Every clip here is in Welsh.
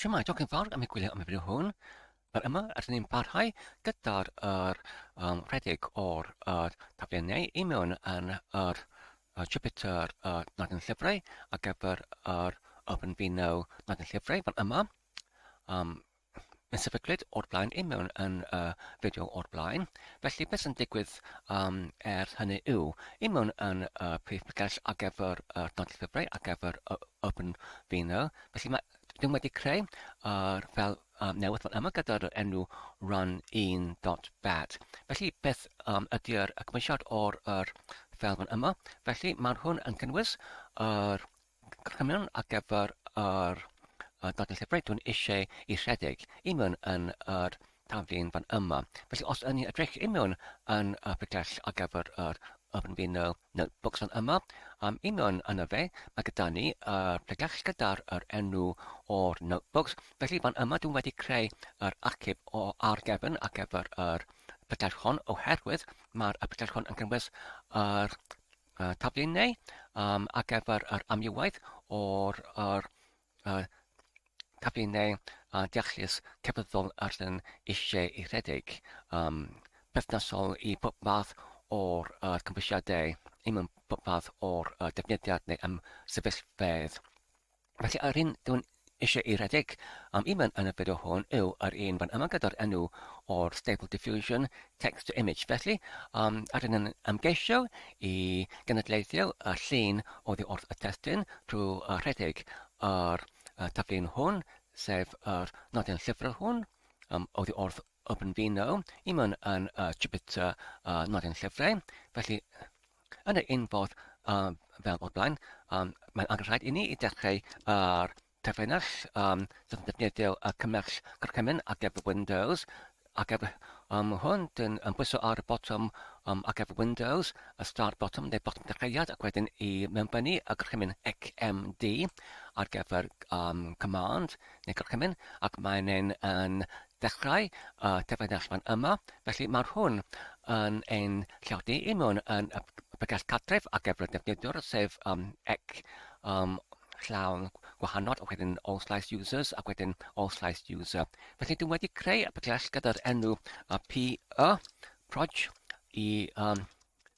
Siamai, diolch yn fawr am y gwylio am y fideo hwn. Fel yma, rydyn ni'n parhau gyda'r er, um, rhedeg o'r er, taflenau i mewn yn yr er, Jupiter er, nad yn llyfrau ar gyfer yr er, Open Vino nad yn llyfrau fel yma. Um, yn sefydlyd o'r blaen, i mewn yn y uh, fideo o'r blaen. Felly beth sy'n digwydd um, er hynny yw, i mewn yn y uh, prif pregell ar gyfer y uh, nodau llyfrau, ar gyfer y uh, Urban Vino. Felly mae, ddim wedi creu ar uh, fel um, newydd fan yma gyda'r enw run 1.bat. Felly beth um, ydy'r cymwysiad o'r er fel fan yma? Felly mae hwn yn cynnwys yr er, Cwestiwn ar gyfer yr uh, Dadl Llyfrau. Dwi'n eisiau i rhedeg i mewn yn yr taflen fan yma. Felly os yn ni edrych i mewn yn y pregell ar gyfer yr Urban Vinyl Notebooks fan yma, um, i mewn yn y fe, mae gyda ni y pregell gyda'r yr enw o'r notebooks. Felly fan yma dwi'n wedi creu yr archif o ar gefn ar gyfer yr pregell hon oherwydd mae'r pregell hon yn cynnwys yr y taflu neu um, ar gyfer yr amrywiaeth o'r, o'r uh, taflu neu uh, deallus cefyddol yr yn eisiau ei rhedeg, um, perthnasol i bob fath o'r uh, cymwysiadau, un mewn bob fath o'r uh, defnyddiad neu ymsefyllfedd. Felly yr hyn dwn eisiau ei redeg am i fan yn y fideo hwn yw yr un fan yma gyda'r enw o'r Stable Diffusion Text to Image. Felly, um, ar yn ymgeisio i gynadleithio y llun oddi wrth y testyn trwy y rhedeg ar y taflun hwn, sef yr nodyn llyfrau hwn, um, oddi wrth OpenVINO, i mewn yn y Jupyter uh, nodyn llyfrau. Felly, Yn yr un fodd um, fel o'r blaen, um, mae'n angen rhaid i ni i dechrau ar terfynell um, sydd yn defnyddio y cymell gorchymyn ar gyfer Windows, ac efo um, hwn, dyn yn bwyso ar y botwm um, ac efo Windows, y start bottom neu botwm dechreuad, ac wedyn i mewnbynnu y gorchymyn HMD ar gyfer um, command neu gorchymyn, ac mae'n yn ddechrau y cyfrinachman yma, felly mae'r hwn yn ein lleodi i mewn yn y bregell cartref ac efo'r defnyddiwr, sef um, ec um, llawn gwahanol, ac wedyn all slice users, ac wedyn all slice user. Felly dwi wedi creu y bregell gyda'r enw uh, PE, proj, i um,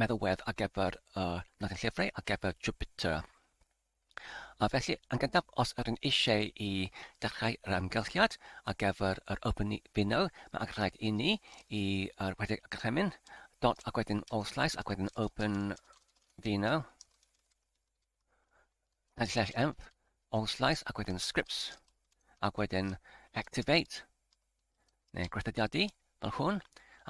meddalwedd ar gyfer y Nagan Llyfrau ar gyfer Jupiter. A felly, yn gyntaf, os ydyn eisiau i dechrau yr amgylchiad ar gyfer yr Open Fino, mae angen rhaid i ni i uh, rhedeg y gorchymyn, dot ac wedyn all slice ac wedyn Open Fino. yn slash env, all slice ac wedyn scripts, ac wedyn activate, neu gweithredu fel hwn,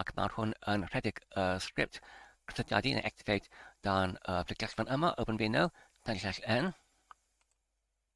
ac mae hwn yn rhedeg y uh, script gweithredu neu activate dan y uh, ffigallfan yma, OpenVINO, yn slash n,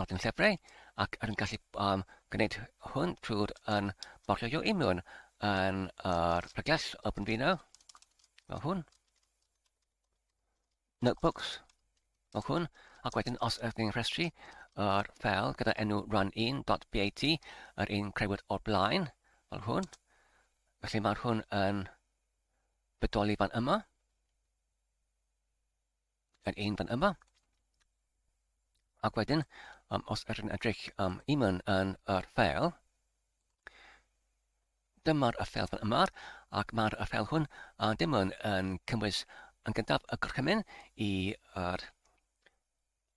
nodyn llyfrau ac rwy'n gallu um, gwneud hwn trwy'r yn bortfolio i mewn yn yr preglas Open Vino fel hwn notebooks fel hwn ac wedyn os ydych chi'n rhestru yr ffel gyda enw run1.bat yr un creuwyd o'r blaen fel hwn felly mae'r hwn yn bodoli fan yma Add un fan yma. Ac wedyn, um, os ydych yn edrych am um, un yn yr ffeil, dyma'r y ffeil fan yma, ac mae'r y ffeil hwn a dim yn, yn cynnwys yn gyntaf y gorchymyn i yr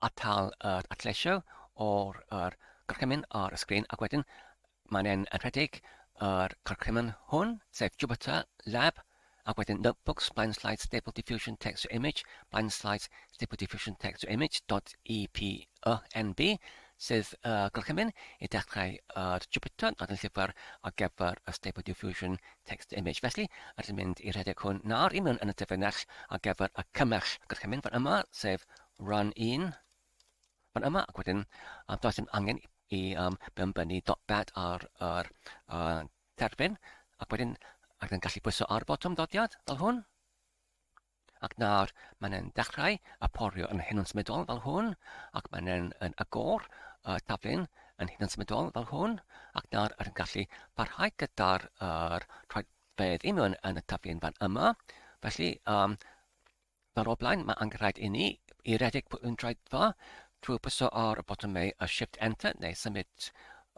atal yr atlesio o'r yr gorchymyn ar y sgrin, ac wedyn Mae'n un yn rhedeg yr cwricwlwm hwn, sef Jupyter Lab, ac wedyn Notebooks, Blind Slides, Stable Diffusion Text to Image, Blind Slides, Stable Diffusion Text to Image, .epynb, sydd uh, gorchymyn i dechrau ar uh, Jupyter ac yn llyfr ar gyfer y Stable Diffusion Text Image. Felly, rydym yn mynd i rhedeg hwn nawr i mewn yn y dyfynach ar gyfer y cymell gorchymyn fan yma, sef run 1, Ond yma ac wedyn, um, does dim angen i um, benbynnu dot bed ar yr uh, terfyn, ac wedyn ac yn gallu pwyso ar y botwm dodiad fel hwn. Ac nawr mae'n e'n dechrau a porio yn hyn yn symudol fel hwn, ac mae'n e'n yn agor y taflun yn hyn yn symudol fel hwn, ac nawr yn gallu parhau gyda'r uh, rhoi fedd i mewn yn y taflun fan yma. Felly, um, Fel o'r blaen, mae angen rhaid inni i redeg pwylyn draetho trwy pwyso ar botymau y Shift Enter neu symud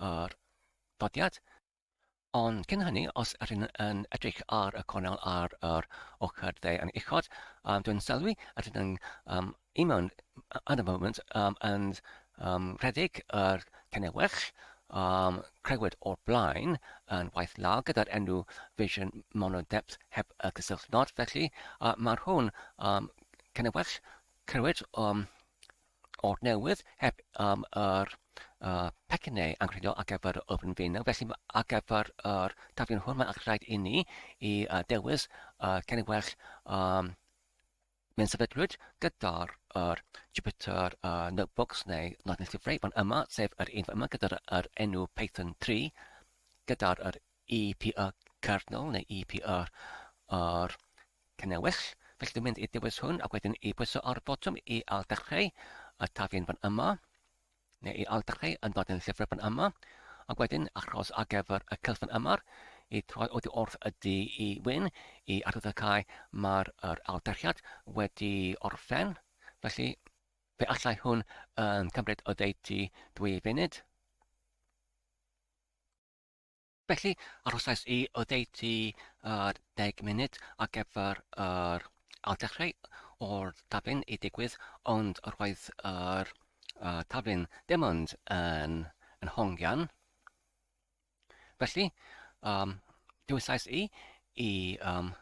yr dodiad. Ond cyn hynny, os ydych chi'n yn edrych ar y cornel ar yr ochr dde yn uchod, um, dwi'n sylwi ydyn nhw'n um, un mewn at y moment um, and Ym rhedeg yr Cynewyrch, um, crëwyd o'r blaen yn waith law gyda'r enw Vision Monodepth heb y cysylltnod, felly uh, mae'r hwn um, Cynewyrch crëwyd um, o'r newydd heb um, yr uh, pecyn neu anghredol ar gyfer yr ofn fenw, felly ar gyfer yr tafion hwn mae'n rhaid i ni i uh, dewis uh, Cynewyrch um, Mae'n sefydlwyd gyda'r yr Jupyter yy Notebooks neu Not Necessary fan yma, sef yr un fan yma gyda'r yr enw Python 3 gyda'r yr EPA kernel neu EPA yr cynnewys. Felly dwi'n mynd i dewis hwn ac wedyn i bwyso ar y botwm i ail dechrau y taflen fan yma. neu i aldachu yn dod yn llyfr fan yma, ac wedyn achos ar gyfer y cylch fan yma, i troi oddi wrth y du i wyn, i arwyddocau mae'r er aldachiad wedi orffen, felly fe allai hwn yn cymryd oddeutu dwy funud. Felly, arhosais i oddeutu yr 10 munud ar gyfer yr ailddechrau o'r taflen i ddigwydd, ond roedd yr uh, taflen ddim ond yn, yn hongian. Felly, um, dywysais i i um,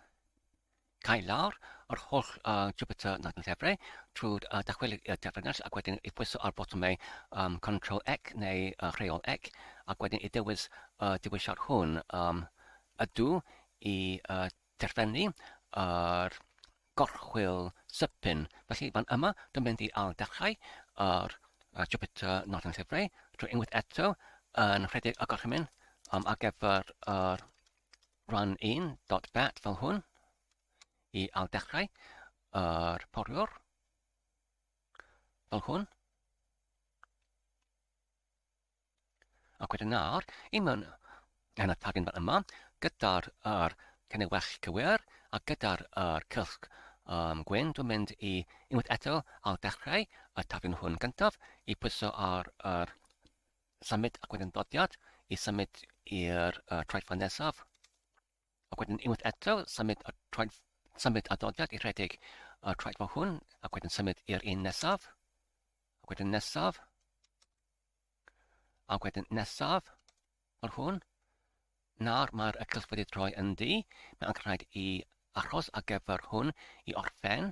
cau lawr yr holl uh, Jupyter nad yn llefre trwy uh, dychwelyd i'r defrynell ac wedyn i pwyso ar botwmau um, Control Ec neu uh, Rheol Ec ac wedyn i dewis uh, dewisiad hwn um, ydw i uh, derfynu yr uh, gorchwyl sypyn. Felly fan yma, dwi'n mynd i al dechrau yr uh, Jupyter nad yn llefre trwy unwaith eto yn rhedeg y gorchymyn um, ar gyfer yr uh, Rhan 1 dot bat fel hwn i al dechrau yr poriwr fel hwn ac wedyn nawr i mewn yn y tagyn fel yma gyda'r yr cynnig well cywir a gyda'r yr cylch um, gwyn dwi'n mynd i unwaith eto al dechrau y tagyn hwn gyntaf i pwyso ar yr symud ac wedyn dodiad i symud i'r uh, troedfan nesaf. Ac wedyn unwaith eto, symud a, troed, symud a dodiad i rhedeg y troed fo hwn, ac wedyn symud i'r un nesaf, ac wedyn nesaf, ac wedyn nesaf, fel hwn. Nawr mae'r cylch wedi troi yn ddi, mae'n rhaid i achos ar gyfer hwn i orffen.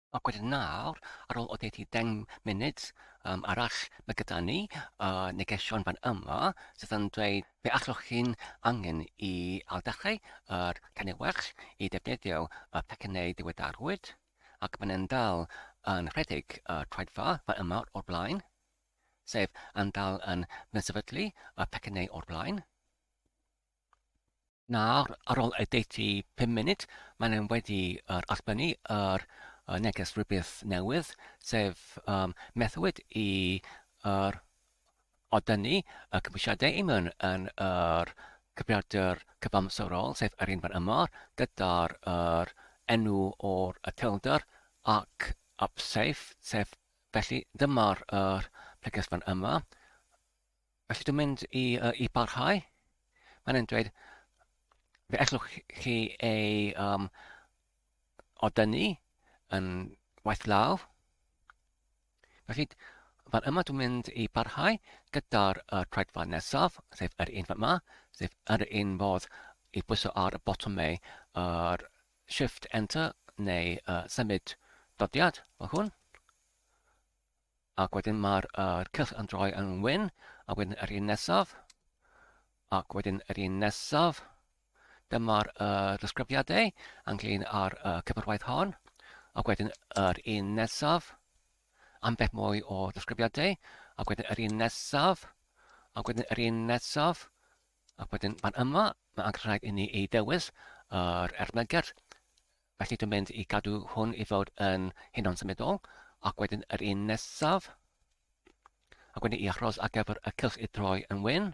Ac wedyn nawr, ar ôl oddeutu deng munud um, arall, mae gyda ni uh, negesion fan yma sydd yn dweud fe allwch chi'n angen i ailddechrau yr tanewell i ddefnyddio y pecynnau diweddarwyd ac mae'n yn dal yn rhedeg y uh, troedfa fan yma o'r blaen, sef yn dal yn mynsefydlu y pecynnau o'r blaen. Nawr, ar ôl edit i 5 munud, mae'n e'n wedi yr allbynnu yr uh, neges rhywbeth newydd, sef um, methwyd i yr o dynnu y cymwysiadau i mewn yn yr cyfrifiadur cyfamserol, sef yr un fan yma, gyda'r yr enw o'r y telder ac upsafe, sef felly dyma'r yr preges fan yma. Felly dwi'n mynd i yy i barhau. Mae'n e'n dweud fe ellwch chi ei um, odynnu yn waith law. Felly fan yma dwi'n mynd i barhau gyda'r uh, traedfa nesaf, sef yr un fan yma, sef yr un fodd i bwyso ar y botwm mei, yr shift enter neu uh, symud dodiad fel hwn. Ac wedyn mae'r uh, cyll yn droi yn wyn, a wedyn yr un nesaf, ac wedyn yr un nesaf. Dyma'r uh, ddisgrifiadau ynglyn â'r uh, cyfarwaith hon, ac wedyn yr un nesaf, ambell mwy o ddisgrifiadau, ac wedyn yr un nesaf, ac wedyn yr un nesaf, ac wedyn fan yma, mae angen rhaid i ni ei dewis yr ermygedd Felly dwi'n mynd i gadw hwn i fod yn hunan symudol ac wedyn yr un nesaf ac wedyn i achros ar gyfer y cylch i droi yn wyn.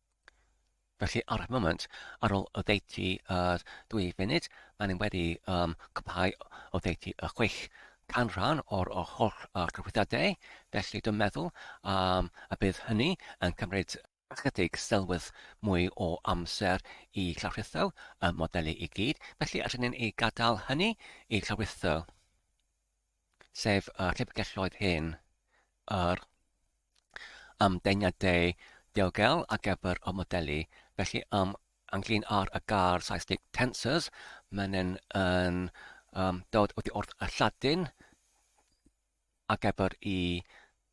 Felly ar y moment, ar ôl oddeutu uh, dwy funud, maen nhw wedi um, cwblhau oddeutu y chwech canran o'r o holl uh, cyfrifiadau, felly dwi'n meddwl um, y bydd hynny yn cymryd ychydig sylwedd mwy o amser i llawritho y modelu i gyd, felly allwn ni'n ei gadael hynny i llawritho. sef y llyfrgelloedd hyn, yr ymdeimladau diogel ar gyfer y modelu, felly um, ynglyn â'r y gair Saesneg tensors, mae'n yn, yn um, dod oddi wrth y Lladin ar gyfer i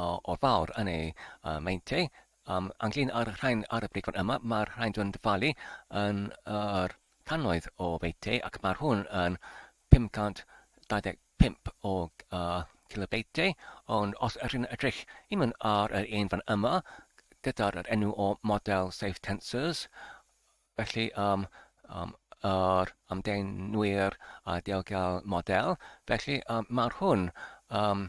o'r fawr yn ei uh, meintiau. Um, anglyn ar y rhain ar y bryd fan yma, mae'r rhain dwi'n dyfalu yn yr uh, cannoedd o feitiau ac mae'r hwn yn 525 o uh, kilobeitiau, ond os yr hyn edrych i mynd ar yr un fan yma, gyda'r enw o model Safe Tensors, felly um, um, yr amdeinwyr a diogel model, felly um, mae'r hwn um,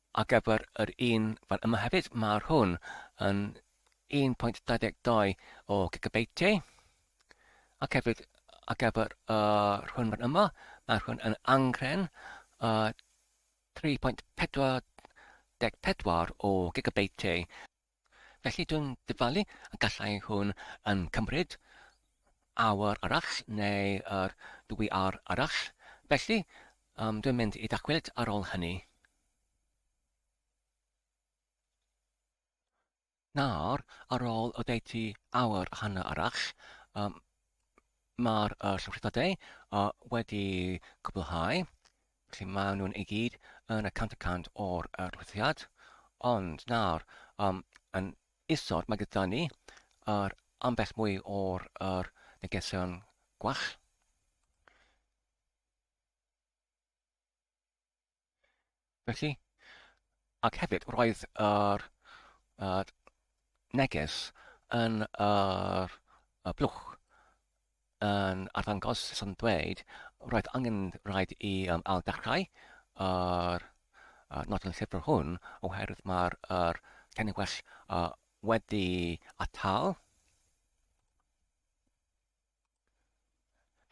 Ar gyfer yr un fan yma hefyd, mae'r hwn yn 1.22 o gigabyte. Ac hefyd ar gyfer yr hwn fan yma, mae'r hwn yn angren uh, 3.44 o gigabyte. Felly dwi'n dyfalu y gallai hwn yn cymryd awr arall neu yr ddwy awr arall, felly um, dwi'n mynd i dacwyd ar ôl hynny. Nawr, ar ôl oddeutu awr a hanner arall, um, Mae'r uh, llofruddiadau uh, wedi cwblhau, felly maen nhw'n ei gyd yn y 100% o'r uh, llofruddiad. Ond nawr, um, yn isod, mae gyda ni yr ambell mwy o'r er, negesion gwell. Felly, ac hefyd roedd yr uh, neges yn yr uh, blwch yn arddangos sy'n dweud roedd angen rhaid i um, al dechrau yr uh, nodyn llyfr hwn oherwydd mae'r er, tenni well uh, wedi atal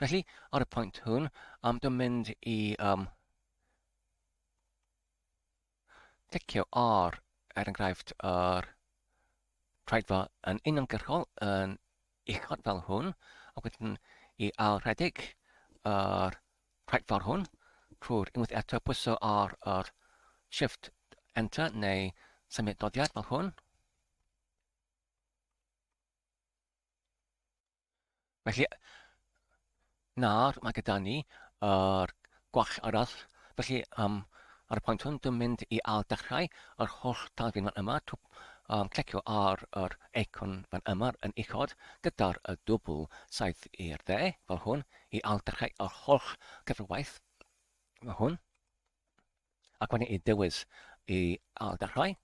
Felly, ar y pwynt hwn, am dy mynd i um, clicio ar, er enghraifft, yr traedfa yn uniongyrchol yn uchod fel hwn, a wedyn i ailredig yr traedfa hwn trwy'r unwaith eto pwyso ar yr shift enter neu symud doddiad fel hwn, Felly, nawr mae gyda ni yr uh, gwall arall. Felly, um, ar y pwynt hwn, dwi'n mynd i al dechrau yr holl dafyn fan yma. Tw, um, clicio ar yr eicon fan yma yn uchod gyda'r y dwbl saith i'r dde, fel hwn, i al dechrau yr holl cyfrwaith fel hwn. Ac wedyn i dewis i al dechrau.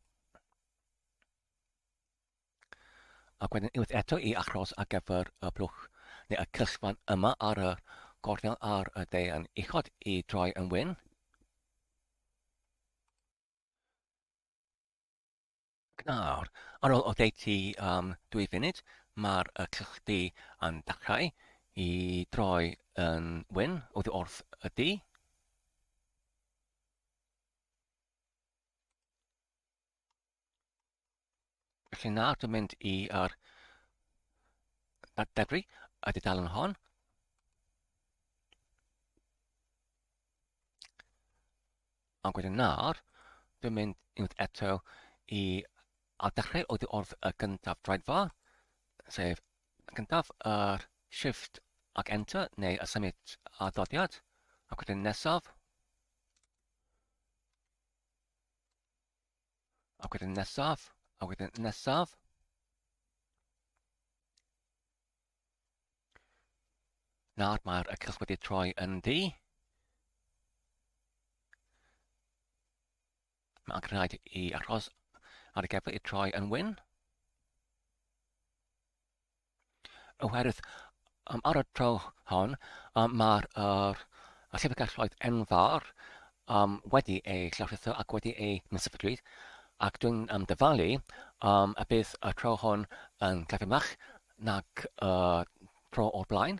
ac wedyn unwaith eto i achos ar gyfer y blwch neu y cysfan yma ar y gornel ar y de yn uchod i droi yn wyn. Nawr, ar ôl oddeutu am dwy funud, mae'r cysgdy yn dechrau i droi yn wyn oddi wrth y du. Felly nawr dwi'n mynd i ar debri y dudalen hon. Ond wedyn nawr, dwi'n mynd unwaith eto i a dechrau oddi wrth y gyntaf draedfa, sef gyntaf yr uh, shift ac enter neu y symud a doddiad, ac wedyn nesaf, A wedyn nesaf, a wedyn nesaf. Nawr mae'r y cylch wedi troi yn ddi. Mae'n rhaid i achos ar y gefn i troi yn wyn. oherwydd um, ar y tro hon um, mae'r er, llyfrgelloedd enfawr um, wedi ei llawrlletho ac wedi ei mysefydlwyd ac dwi'n um, dyfalu um, y bydd y tro hwn yn glyfymach nag y uh, tro o'r blaen.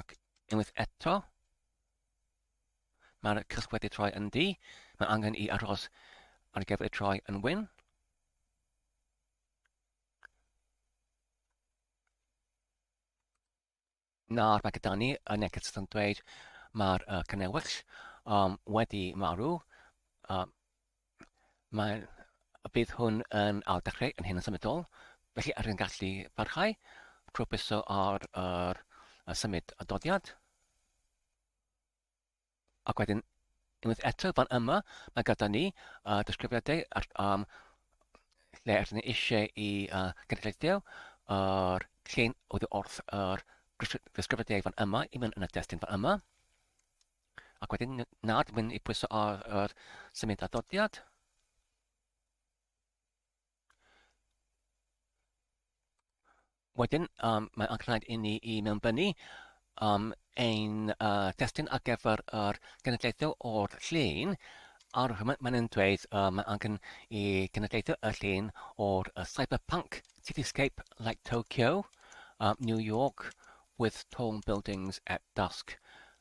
Ac unwaith eto, mae'r cysg wedi troi yn du. Mae angen i aros ar gyfer y troi yn wyn. Nawr mae gyda ni y neges yn dweud mae'r uh, cynnewys um, wedi marw. Um, Mae, bydd hwn yn ail dechrau yn hyn yn symudol, felly ar yn gallu parhau trwy byso ar yr y symud y dodiad. Ac wedyn, unwaith eto, fan yma, mae gyda ni uh, disgrifiadau ar, um, lle ydyn ni eisiau i uh, gynulleiddio yr uh, llun oedd wrth yr uh, disgrifiadau fan yma i mynd yn y destun fan yma. Ac wedyn nawr dwi'n mynd i pwyso ar yr symud adodiad. Wedyn um, mae angen rhaid i ni i mewnbynnu um, ein uh, testyn ar gyfer yr genedlaethau o'r llun ar hyn mae'n yn dweud uh, mae angen i genedlaethau y llun o'r uh, cyberpunk cityscape like Tokyo, um, New York with tall buildings at dusk.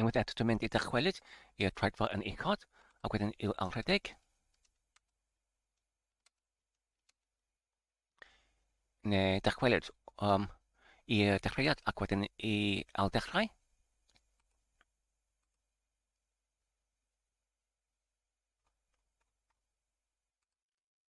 Unwaith eto, dwi'n mynd i dychwelyd i'r troedfa yn uchod, ac wedyn i'w alredeg. Neu dychwelyd um, i'r dechreuad ac wedyn i ailddechrau.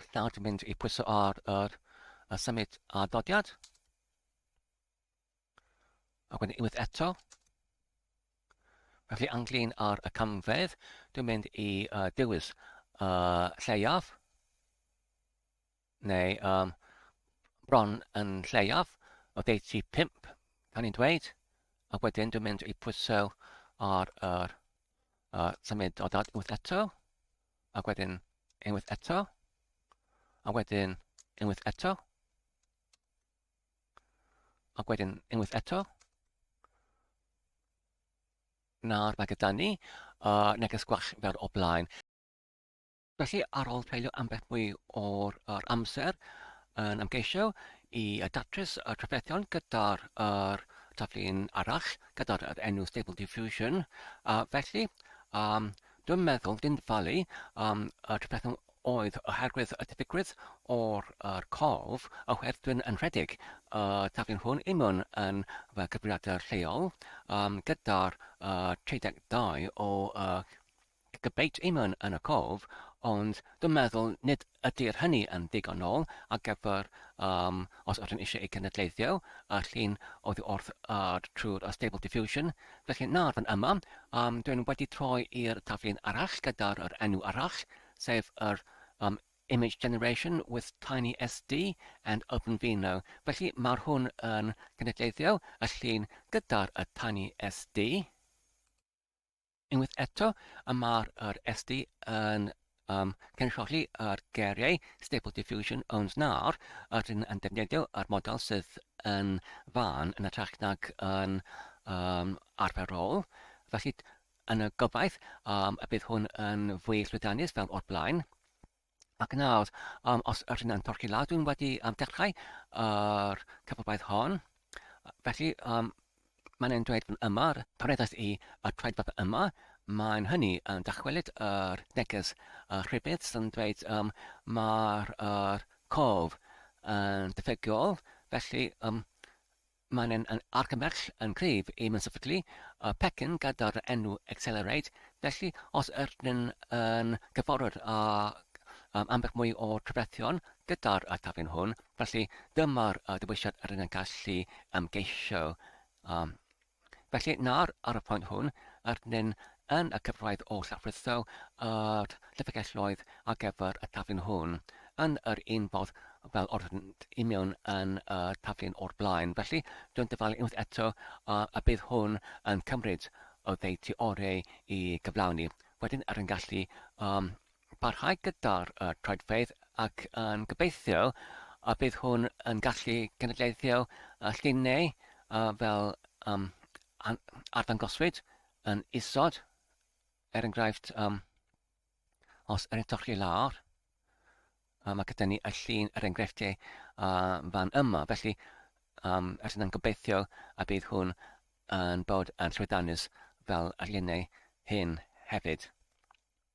Rwy'n nawr mynd i pwyso ar yr y symud a dodiad. A wedyn unwaith eto. Felly anglin ar y camfedd, dwi'n mynd i uh, dewis uh, lleiaf, neu um, bron yn lleiaf, o ddeiti 5, gan i'n dweud, a wedyn dwi'n mynd i pwyso ar yr uh, symud dodiad unwaith eto. ac wedyn unwaith eto, a wedyn unwaith eto, ac wedyn unwaith eto. Nawr mae gyda ni uh, neges gwach fel o blaen. Felly, ar ôl treulio ambell mwy o'r or amser yn ymgeisio i datrys y trafferthion gyda'r er, taflu'n arall, gyda'r er enw Stable Diffusion, a felly um, Dwi'n meddwl dwi'n falu am y trefnu oedd oherwydd y tebygrwydd o'r yr corff a hwyrth dwi'n yn rhedeg y taflen hwn i mewn yn fy cyfrifiadur lleol um, gyda'r uh, 32 o uh, debate i mewn yn y corff ond dwi'n meddwl nid Ydy'r hynny yn ddigonol ar gyfer um, os ydym eisiau ei gynadleiddio, y llun oddi wrth ad trwy'r uh, Stable Diffusion? Felly, na, fan yma, um, dwi'n wedi troi i'r taflun arall gyda'r yr enw arall, sef yr um, Image Generation with Tiny SD and OpenVino. Felly, mae'r hwn yn gynadleiddio y llun gyda'r y Tiny SD. Unwaith eto, y mae'r yr SD yn um, cynrychioli yr geiriau Stable Diffusion owns nawr, yr hyn yn defnyddio yr model sydd yn fan yn y trach nag yn um, arferol. Felly, yn y gobaith, um, y bydd hwn yn fwy llwyddiannus fel o'r blaen. Ac nawr, um, os ydych chi'n torci lawr, dwi'n wedi um, dechrau yr cyfrobaeth hon. Felly, um, mae'n ein dweud fan yma, torreddais i y troedfedd yma, mae'n hynny yn dychwelyd yr neges uh, rhybudd sy'n dweud um, mae'r uh, cof yn diffygiol, felly um, Mae'n un yn argymell yn cryf i ymsefydlu y pecyn gyda'r enw Accelerate, felly os ydyn yn gyfarwydd ag ambell mwy o drafferthion gyda'r atafyn hwn, felly dyma'r dewisiad rydyn yn gallu ymgeisio. Felly nawr, ar y pwynt hwn, rydyn yn y cyfraith oll a fritho yr llyfrgelloedd ar gyfer y taflen hwn, yn yr un fodd fel yr oeddynt i mewn yn y taflen o'r blaen. Felly, dyw'n dyfalu unwaith eto a y bydd hwn yn cymryd oddeutu oreu i gyflawni. Wedyn er yn gallu um, parhau gyda'r uh, troedfeydd ac yn gobeithio a bydd hwn yn gallu cenedlaethio uh, llun neu uh, fel um, arddangoswyd yn isod, er enghraifft, um, os er edrych chi lawr, um, mae gyda ni y llun er enghreifftiau uh, fan yma. Felly, um, ydyn nhw'n gobeithio a bydd hwn yn bod yn llwydanus fel y lluniau hyn hefyd.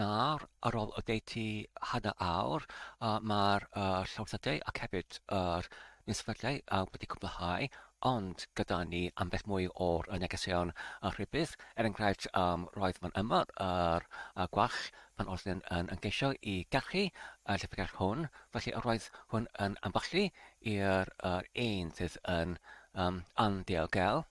Nawr, ar ôl oddeutu hanner awr, mae'r llawdriniaethau ac hefyd yr insefydliad wedi cwblhau, ond gyda ni ambell mwy o'r negeseuon rhybudd. Er enghraifft, roedd fan yma yr gwalch pan oeddwn yn ymgeisio i garchu y llyfrgell hwn, felly yr oedd hwn yn amballu i'r un sydd yn anddiogelwch.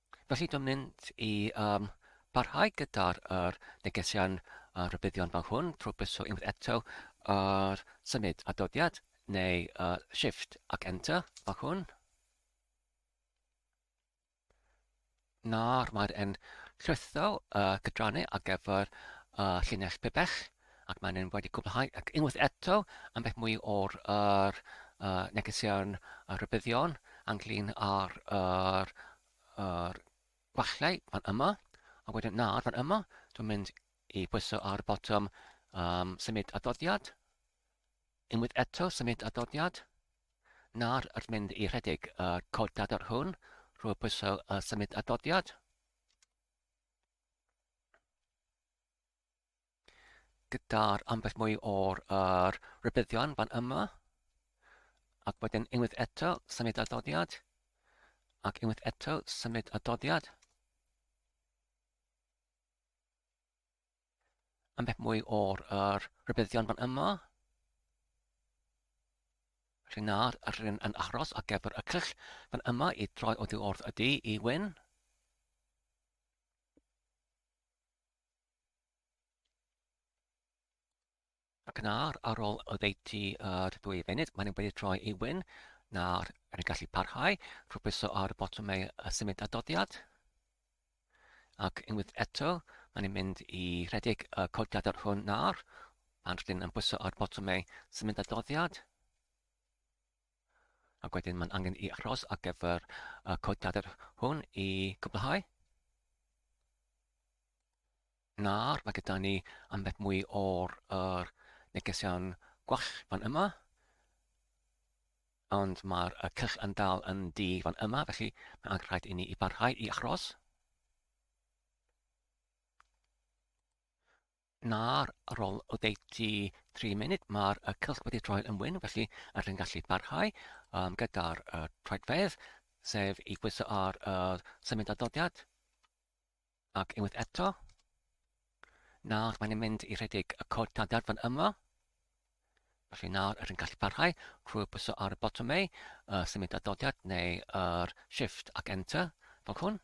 Felly dwi'n mynd i um, barhau gyda'r er, negesian uh, rhybuddion fel hwn trwy bwyso unwaith eto ar symud a dodiad neu uh, shift ac enter fel hwn. Nawr mae'r en llwytho uh, cydranu ar gyfer uh, llinell pibell. ac maen nhw wedi cwblhau ac unwaith eto ambell mwy o'r er, uh, negeseuon a rhybuddion ynglyn â'r er, er gwallau fan yma, a wedyn nawr fan yma, dwi'n mynd i bwyso ar y botwm um, symud adoddiad, unwaith eto symud adoddiad, nawr wrth mynd i rhedeg y uh, cod dadar hwn, rwy'n pwyso uh, symud adoddiad, gyda'r ambell mwy o'r er, rybuddion fan yma. Ac wedyn unwaith eto, symud adoddiad. Ac unwaith eto, symud adoddiad. Ambell mwy o'r er, rybuddion fan yma. Felly nawr, rydyn yn aros ar gyfer y cyll fan yma i droi oddi wrth y du i wyn. Ac yn ar, ar ôl oddeutu yr ddwy funud, maen nhw'n wedi troi i wyn. Nawr, er yn gallu parhau, rhywbeth pwyso ar y botwm ei symud adoddiad. Ac unwaith eto, maen nhw'n mynd i rhedeg y codiadau hwn nawr. Maen nhw'n yn pwyso ar botwm ei symud adoddiad. Ac wedyn mae'n angen i aros ar gyfer y codiadau hwn i gwblhau. Nawr mae gyda ni ambell mwy o'r er, negesion gwell fan yma. Ond mae'r cylch yn dal yn di fan yma, felly mae'n angen rhaid i ni i barhau i achros. Na, ar ôl oddeutu 3 munud, mae'r uh, cylch wedi troi yn wyn, felly yr hyn gallu barhau um, gyda'r uh, troedfedd, sef i bwyso ar uh, symud adoddiad, ac unwaith eto. Nawr mae'n mynd i rhedeg y cod tadar fan yma, felly nawr yr hyn gallu barhau trwy bwyso ar y botwm ei, uh, symud adoddiad neu yr uh, shift ac enter, fel hwn.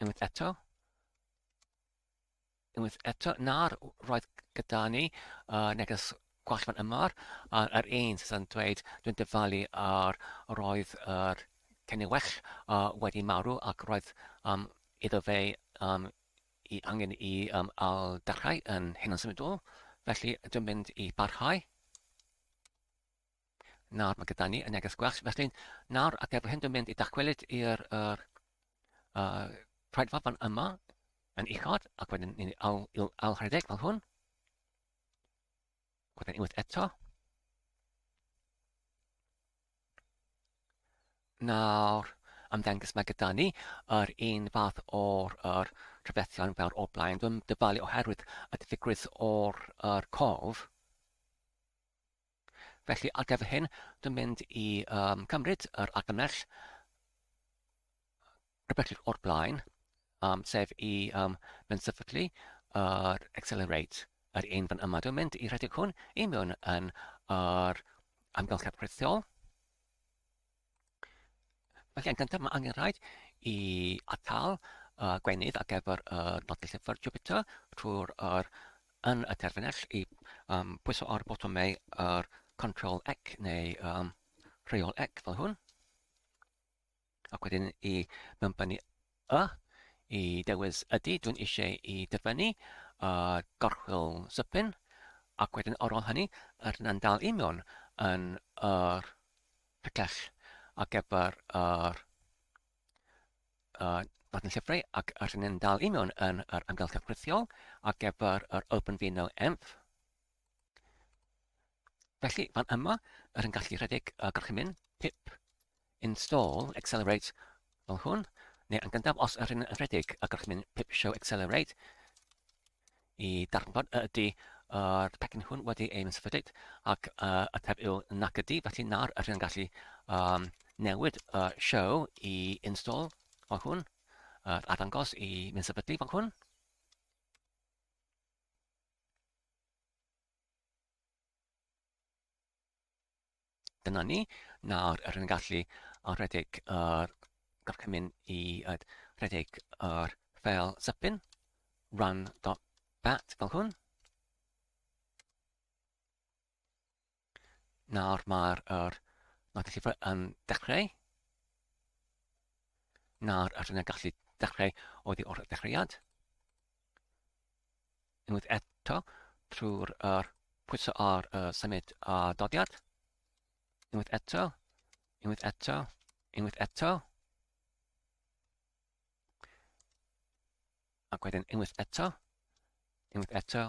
Unwaith eto. Unwaith eto. Na'r roedd gyda ni uh, neges gwell fan yma. A'r er un sy'n dweud, dwi'n dyfalu ar roedd yr er ceniwell uh, wedi marw ac roedd um, iddo fe um, i angen i um, al darhau yn hyn yn symudol. Felly dwi'n mynd i barhau. Nawr mae gyda ni y neges gwell. Felly, nawr ac efo hyn dwi'n mynd i dacwelyd i'r er, uh, rhaidfa fan yma yn uchod, ac wedyn ni'n ail, ail rhedeg fel hwn. Wedyn unwaith eto. Nawr, ymddengys mae gyda ni yr un fath o'r er, trafethion fel o'r blaen. Dwi'n dyfalu oherwydd y diffygrwydd o'r er, cof. Felly ar gyfer hyn, dwi'n mynd i um, cymryd yr argymell rhywbeth o'r blaen, um, sef i um, mynd sefydlu yr uh, accelerate, yr un fan yma. Dwi'n mynd i rhedeg hwn i mewn yn yr amgylchedd rhithiol. Felly, yn gyntaf, mae angen rhaid i atal uh, gwenydd ar gyfer y uh, nodau llyfr Jupiter trwy'r er, yn y terfynell i um, pwyso ar y botwm neu yr control ec neu um, rheol ec fel hwn. Ac wedyn i mewnbynnu O! Y dewis ydy, dwi'n eisiau i dyfynnu a gorchwyl Sypin, ac wedyn ar ôl hynny, yr yna'n dal i mewn yn yr picell ar gyfer yr uh, Martin Llyfrau ac yr hynny'n dal i mewn yn yr amgylchedd rhithiol ar gyfer yr Open Vino Enf. Felly, fan yma, yr yn gallu rhedeg y gorchymyn pip install accelerate fel hwn, neu yn gyntaf os yr yn rhedeg y gorchymyn pip show accelerate i darfod y ydy yr pecyn hwn wedi ein sefydlyd ac uh, y teb yw nac ydy, felly nawr yr yn gallu um, newid y uh, show i install fel hwn, uh, arddangos i mynd sefydlu fel hwn. Dyna ni. Nawr, rydyn ni'n gallu rhedeg yr gorchymyn i rhedeg yr ffeil sypyn run.bat fel hwn. Nawr mae'r er, ma llyfr yn dechrau. Nawr ydyn ni'n gallu dechrau oddi o'r dechreuad. Unwaith eto, trwy'r er, pwyso ar y symud a dodiad. Unwaith eto, unwaith eto, unwaith eto. Ac wedyn unwaith eto, unwaith eto,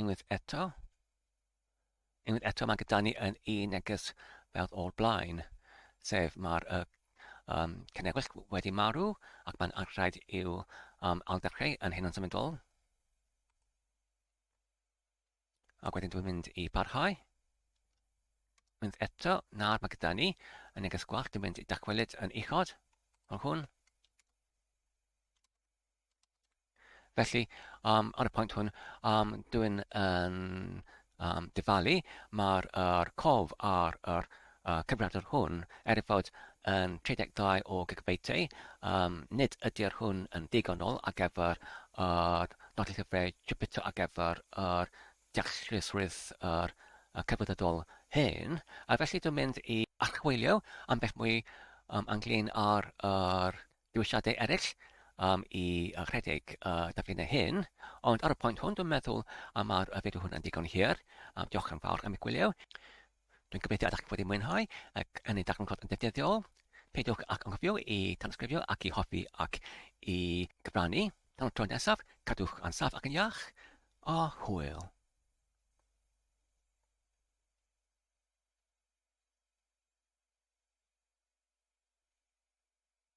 Unwaith eto. Unwaith eto mae gyda ni yn un neges fel o'r blaen, sef mae'r uh, um, cynefell wedi marw ac mae'n rhaid i'w um, alddechrau yn hyn o'n symudol. Ac wedyn dwi'n mynd i parhau. Mynd eto, nawr mae gyda ni yn neges gwallt, dwi'n mynd i dacwelyd yn uchod o'r hwn. Felly, yym, ar y pwynt hwn, yym, dwi'n yn yym, dyfalu mae'r er cof ar yr er cyfrifiadur hwn er ei fod yn 32 o gigabeitiau. Um, nid ydy'r hwn yn ddigonol ar gyfer yr nodau llyfrau Jupyter ar gyfer yr deallusrwydd yr er cyfrifiadol hyn. A felly dwi'n mynd i archwilio am beth mwy um, anglyn ar yr er dewisiadau eraill um, i rhedeg uh, daflinnau hyn, ond ar y pwynt hwn dwi'n meddwl am ar y fideo hwnna'n digon hir. Um, diolch yn fawr am y gwylio. Dwi'n gobeithio ydych chi wedi mwynhau ac yn ei darganfod yn ddefnyddiol. Peidiwch ac anghofio i tanysgrifio ac i hoffi ac i gyfrannu. Tan y tro nesaf, cadwch yn saf ac yn iach, a hwyl.